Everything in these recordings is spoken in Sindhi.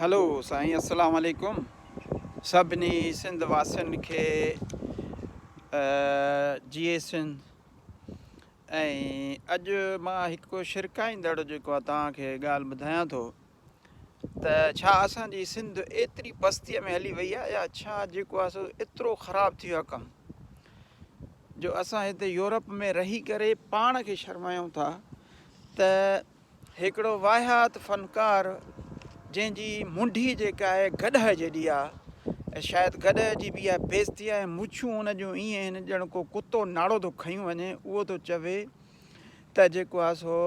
هلو سائين السلام عليڪم سڀني سنڌ واسين کي جي اي سنڌ اڄ مان هڪ شرڪائيندڙ جيڪو توهان کي ڳالهه ٻڌايان ٿو ته ڇا اسان جي سنڌ ايتري پستيء ۾ هلي وئي آهي يا ڇا جيڪو آهي سو ايترو خراب ٿي ويو ڪم جو اسان هتي يورپ ۾ رهي ڪري پاڻ کي شرمايون ٿا ته هڪڙو واهيات فنڪار جنهن جي منڍي جيڪا آهي گڏهه جيڏي آ ۽ شايد گڏهه جي به اها بيستي آ ۽ مڇون ان جون ائين آهن ڄڻ ڪو ڪتو ناڙو ٿو کنيون وڃي اهو ٿو چوي ته جيڪو آ سو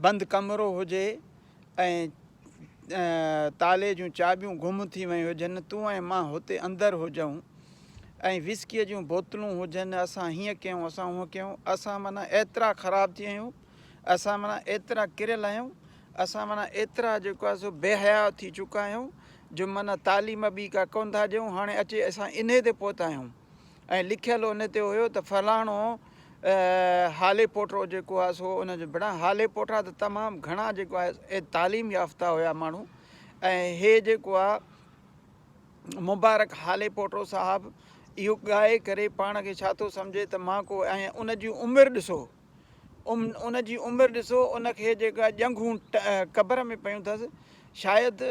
بند ڪمرو هجي ۽ تالي جون چاٻيون گم ٿي ويون هجن، تون ۽ مان هتي اندر هجئون ۽ وسڪيء جون بوتلون هجن، اسان هيئن ڪيون، اسان هونئن ڪيون، اسان معنيٰ ايترا خراب ٿي ويون، اسان معنيٰ ايترا ڪريل آهيون، اسان معنيٰ ايترا جيڪو آهي سو بي حياء ٿي چڪا آهيون، جو معنيٰ تالي مان ٻي ڪا ڪونه ٿا ڏيون، هاڻي اچي اسان انهيء تي پهتا آهيون. ۽ لکيل ان تي هيو ته فلاڻو هالي پوٽرو جيڪو آهي سو ان جو بڻا هالي پوٽرا ته تمام گهڻا جيڪو آهي تعليم يافته هيا ماڻهو ۽ هي جيڪو آهي مبارڪ هالي پوٽرو صاحب اهو ڳائي ڪري پاڻ کي ڇا ٿو سمجهي ته مان ڪو ۽ ان جون عمر ڏسو ان جي عمر ڏسو ان کي جيڪا ڄنگهون قبر ۾ پيون ٿس شايد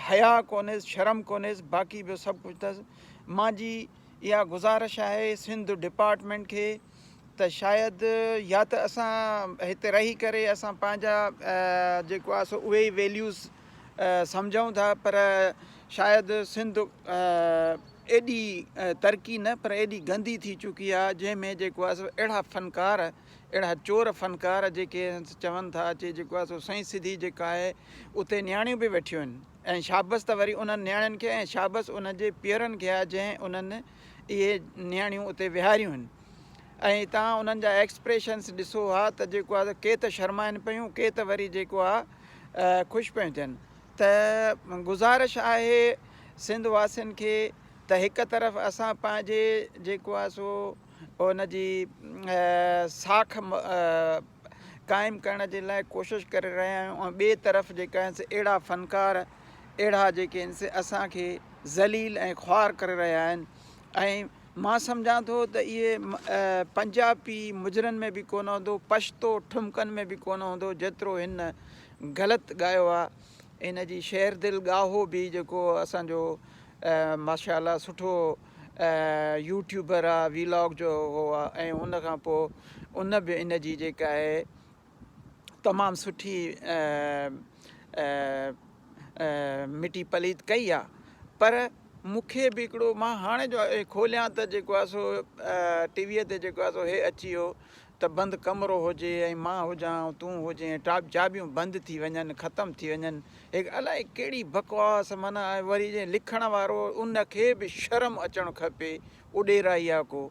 حيا ڪونهيس شرم ڪونهيس باقي ٻيو سڀ ڪجهه ٿس مانجي اها گذارش آهي سنڌ ڊپارٽمينٽ کي ته شايد يا ته اسان هتي رهي ڪري اسان پنهنجا جيڪو آهي سو اهي ويليوز سمجهون ٿا پر شايد سنڌ ايڏي ترقي نه پر ايڏي گندي ٿي چڪي آ جنهن ۾ جيڪو آ سو اهڙا فنڪار اهڙا چور فنڪار جيڪي چون ٿا چي جيڪو آ سو سائين سڌي جيڪا آهي اتي نياڻيون به ويٺيون آهن ۽ شابس ته وري انهن نياڻين کي ۽ شابس ان جي پيئرن کي آ جنهن انهن اهي نياڻيون اتي ويهاريون آهن ۽ تان انهن جا ايڪسپريشنس ڏسو ها ته جيڪو آهي ڪي ته شرمائن پيون ڪي ته وري جيڪو آهي خوش پيون ٿين ته گذارش آهي سنڌ واسين کي ته هڪ طرف اسان پنهنجي جيڪو آهي سو ان جي ساک قائم ڪرڻ جي لاء ڪوشش ڪري رهيا آهيون ٻي طرف جيڪا اهڙا فنڪار اهڙا جيڪي آهن سي اسان کي ذليل ۽ خوار ڪري رهيا آهن ۽ مان سمجهان ٿو ته اهي پنجابي مجرن ۾ به ڪونه هوندو پشتو ٺمڪن ۾ به ڪونه هوندو جيترو هن غلط ڳايو آهي ان جي شعر دل ڳاهو به جيڪو اسانجو ماشاء الله سٺو يوٽيوبر آهي ويلاگ جو هو آهي ۽ ان کان پوء ان به ان جي جيڪا آهي تمام سٺي مٽي پليت ڪئي آ پر مونکي به هڪڙو مان هاڻي جو کوليان ته جيڪو آ سو ٽي وي تي جيڪو آ سو هي اچي ويو ته بند ڪمرو هجي ۽ مان هجان ۽ تون هجين ٽاپ چاٻيون بند ٿي وڃن ختم ٿي وڃن هي الاء ڪهڙي بڪواس معنيٰ وري جي لکڻ وارو ان کي به شرم اچڻ کپي اڏيرائي آ ڪو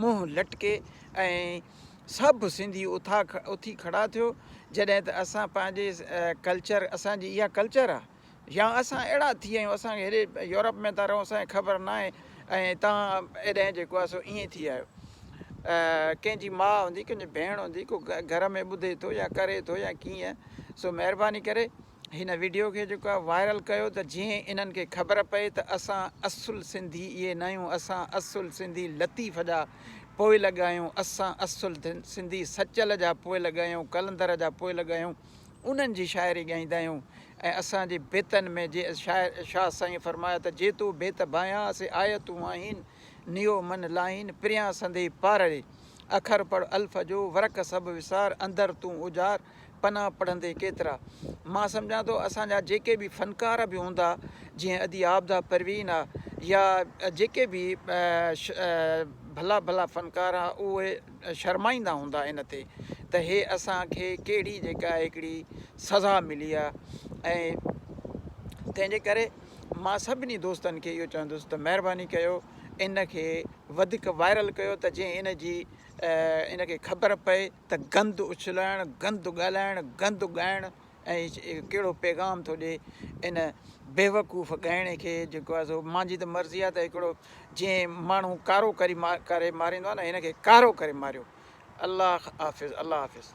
منهن لٽڪي ۽ سڀ سنڌي اٿي کڙا ٿيو جڏهن ته اسان پنهنجي ڪلچر اسان جي اها ڪلچر آ يا اسان اهڙا ٿي ويا آهيون اسان کي هيڏي يورپ ۾ ٿا رهون اسان کي خبر ناهي ۽ تان اڏهن جيڪو آ سو ائين ٿي آيو ڪنهن جي ماء هوندي ڪنهن جي ڀيڻ هوندي ڪو گهر ۾ ٻڌي ٿو يا ڪري ٿو يا ڪيئن سو مهرباني ڪري هن وڊيو کي جيڪو آهي وائرل ڪيو ته جيئن انهن کي خبر پئي ته اسان اصل سنڌي اهي ناهيون اسان اصل سنڌي لطيف جا پوئلڳ آهيون اسان اصل سنڌي سچل جا پوئلڳ آهيون قلندر جا پوئلڳ آهيون انهن جي شاعري ڳائيندا آهيون ۽ اسان جي بيتن ۾ جي شاعر شاهه سائين فرمايا ته جي تو بيت ڀانيان سي آيتون آهين نيو من لاهين پريان سندي پارڙي اکر پڙ الف جو ورق سڀ وسار اندر تون اجار پنا پڙهندي ڪيترا مان سمجهان ٿو اسان جا جيڪي به فنڪار به هوندا جيئن ادي عابده پروين آ يا جيڪي به ڀلا ڀلا فنڪار آ اهي شرمائيندا هوندا ان تي ته هي اسان کي ڪهڙي جيڪا هڪڙي سزا ملي آ ۽ تنهن جي ڪري مان سڀني دوستن کي اهو چوندس ته مهرباني ڪيو ان کي وڌيڪ وائرل ڪيو ته جيئن ان جي ان کي خبر پئي ته گند اڇلائڻ، گند ڳالهائڻ، گند ڳائڻ ۽ ڪهڙو پيغام ٿو ڏي ان بيوقوف ڳائڻي کي جيڪو آهي سو مانجي ته مرضي آهي ته هڪڙو جئين ماڻهو ڪارو ڪري ڪري ماريندو آهي نه هن کي ڪارو ڪري ماريو الله حافظ الله حافظ.